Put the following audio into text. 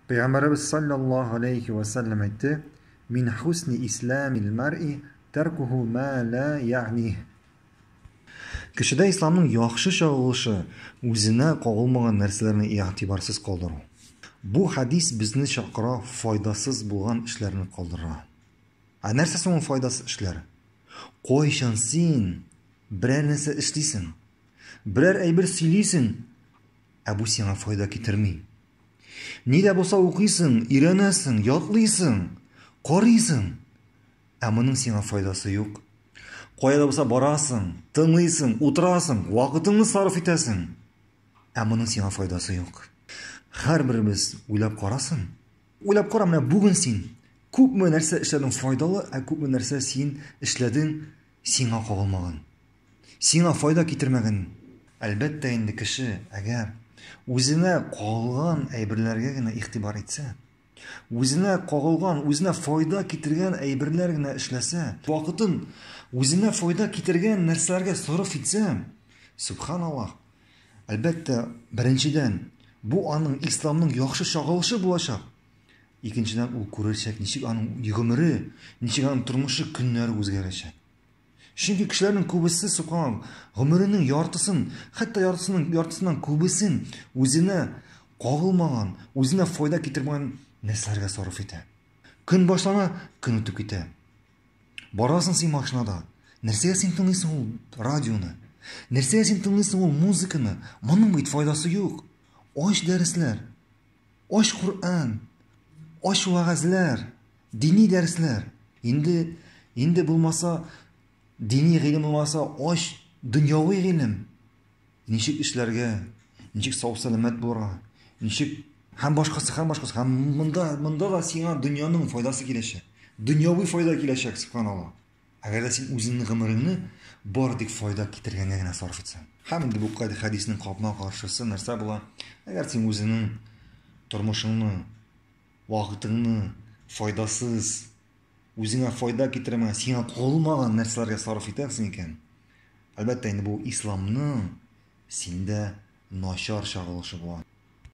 Пәйгамбәребез саллаллаһу алейхи вә сәлләм әйтте, Мин хусни исламил маръи тәркуху ма ла яъних. Кешедә исламның яхшы чагылышы, үзенә кагылмаган нәрсәләрне игътибарсыз калдыру. Бу хадис безне чакыра файдасыз булган эшләрне калдырырга. Ә нәрсә соң ул файдасыз эшләр? Кайчан син берәр нәрсә эшлисең, берәр әйбер сөйлисең, Ә бу сиңа файда китерми. Ни дә булса укыйсың, өйрәнәсең, ятлыйсың, карыйсың. Ә моның сиңа файдасы юк. Кая да булса барасың, тыңлыйсың, утырасың, вакытыңны сарыф итәсең. Ә моның сиңа файдасы юк. Һәрберебез уйлап карасын. Уйлап кара, менә бүген син күпме нәрсә эшләдең файдалы, ә күпме нәрсә син эшләдең Сиңа кагылмаган. Сиңа файда китермәгән. Әлбәттә инде, кеше, әгәр үзенә кагылган әйберләргә генә игътибар итсә, үзенә кагылган, үзенә файда китергән әйберләр генә эшләсә, вакытын үзенә файда китергән нәрсәләргә сарыф итсә, субханаллаһ, әлбәттә, беренчедән, бу аның исламның яхшы чагылышы булачак. Икенчедән, ул күрәчәк, ничек аның гомере, ничек аның тормышы, көннәре үзгәрәчәк. Чөнки кешеләрнең күбесе сукан гомеренең яртысын, хәтта яртысының яртысыннан күбесен үзенә кагылмаган, үзенә файда китермәгән нәрсәләргә сарыф итә. Көн башлана, көн үтеп китә. Барасың син машинада. Нәрсәгә син тыңлыйсың ул радионы? Нәрсәгә син тыңлыйсың ул музыканы? Моның бит файдасы юк. Ач дәресләр. Ач Коръән, ач вәгазьләр, дини дәресләр. Инде инде булмаса дини гыйлем булмаса ач дөньяви гыйлем. Ничек эшләргә, ничек сау-сәламәт булырга, ничек һәм башкасы һәм башкасы һәм монда монда да сиңа дөньяның файдасы киләчәк. Дөньяви файда киләчәк, субханалла. Әгәр дә син үзеңнең гомереңне бары тик файда китергәнгә генә сарыф итсәң. Һәм инде бу хадиснең капма каршысы нәрсә була? Әгәр син үзеңнең тормышыңны, вакытыңны файдасыз, үзеңә файда китермәгән, сиңа кагылмаган нәрсәләргә сарыф итәсең икән, әлбәттә инде бу исламның синдә начар чагылышы була.